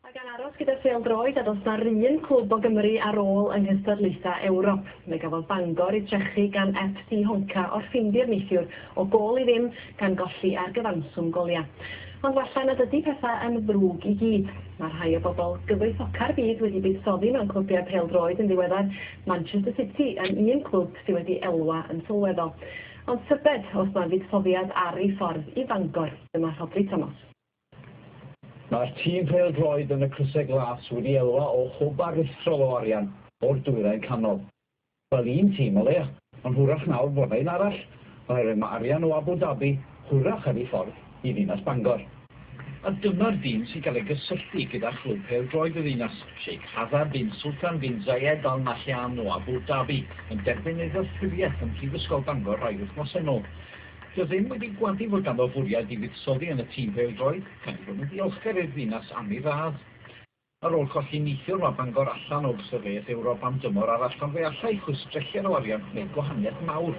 A gan aros gyda phêl-droed a does 'na 'run clwb o Gymru ar ôl yng nghystadlaethau Ewrop. Fe gafodd Bangor eu trechu gan FC Honka o'r Ffindir neithiwr o gôl i ddim gan golli ar gyfanswm goliau. Ond walla nad ydy pethau yn ddrwg i gyd. Mae rhai o bobl gyfoethoca'r byd wedi buddsoddi mewn clybiau pêl-droed yn ddiweddar, Manchester City yn un clwb sydd wedi elwa yn sylweddol. Ond tybed os mae fuddsoddiad ar ei ffordd i Fangor? Dyma Rhodri Tomos. Mae'r tîm pêl-droed yn y Crysau Glas wedi elwa o hwb aruthrol o arian o'r Dwyrain Canol. Fel un tîm o leia, ond hwyrach nawr fod 'na un arall, oherwydd mae arian o Abu Dhabi hwyrach ar ei ffordd i ddinas Bangor. A dyma'r dîm sy'n cael ei gysylltu gyda chlwb pêl-droed y ddinas, Sheikh Hazard bin Sultan bin Zayed Al Nahyan o Abu Dhabi, yn derbyn ei ddeddfwriaeth ym Mhrifysgol Bangor rai wythnosau nôl. Rydym wedi gwadu fod ganddo fwriad i fuddsoddi yn y tîm pêl-droed, gan ei fod yn ddiolchgar i'r ddinas am ei radd. Ar ôl colli neithiwr, mae Bangor allan o gystadleuaeth Ewrop am dymor arall, ond fe allai chwistrelliad o arian wneud gwahaniaeth mawr.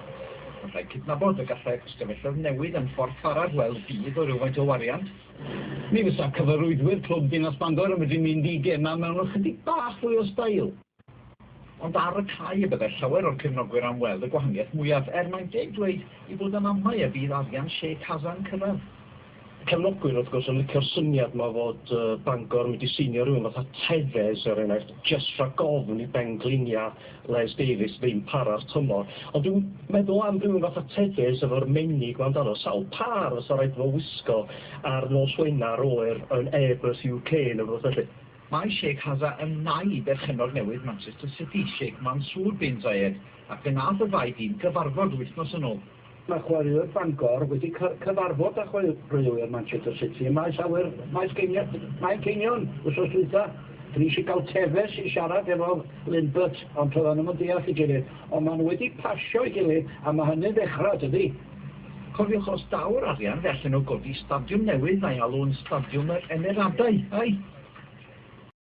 Ond rhaid cydnabod y gallai'r ystafelloedd newid yn ffordd ffaraf weld budd o rywfaint o wariant. Mi fysa cyfarwyddwyr clwb Dinas Bangor yn medru mynd i gemau mewn ychydig bach fwy o stail. Ond ar y cae y byddai llawer o'r cefnogwyr am weld y gwahaniaeth mwyaf, er mae'n deg dweud ei bod am amau y bydd arian Che Kaza'n cyrraedd. Y cefnogwyr, wrth gwrs, yn licio'r syniad 'ma fod Bangor wedi seinio rhywun fatha Tevez, er enghraifft, jyst rhag ofn i bengliniau Les Davies ddim para'r tymor. Ond dwi'n meddwl am rywun fatha Tevez efo'r menig 'ma amdano, sawl pâr fysa rhaid iddo fo wisgo ar nos Wener oer yn Airbus UK neu rywbeth felly? Mae Sheikh Hazza yn nai i berchennog newydd Manchester City, Sheikh Mansour bin Zayed, ac fe wnaeth y ddau dîm gyfarfod wythnos yn ôl. Mae chwaraewr Bangor wedi cyfarfod â chwaraewyr Manchester City ym maes awyr Manceinion wythnos dwytha. Dwi eisiau cael Tevez i siarad efo Lindbert, ond toeddan nhw'm yn deall ei gilydd. Ond maen nhw wedi pasio'i gilydd a mae hynny'n ddechrau, tydi? Cofiwch os daw'r arian fe allen nhw godi stadiwm newydd a'i alw'n Stadiwm yr Emeradau, ai?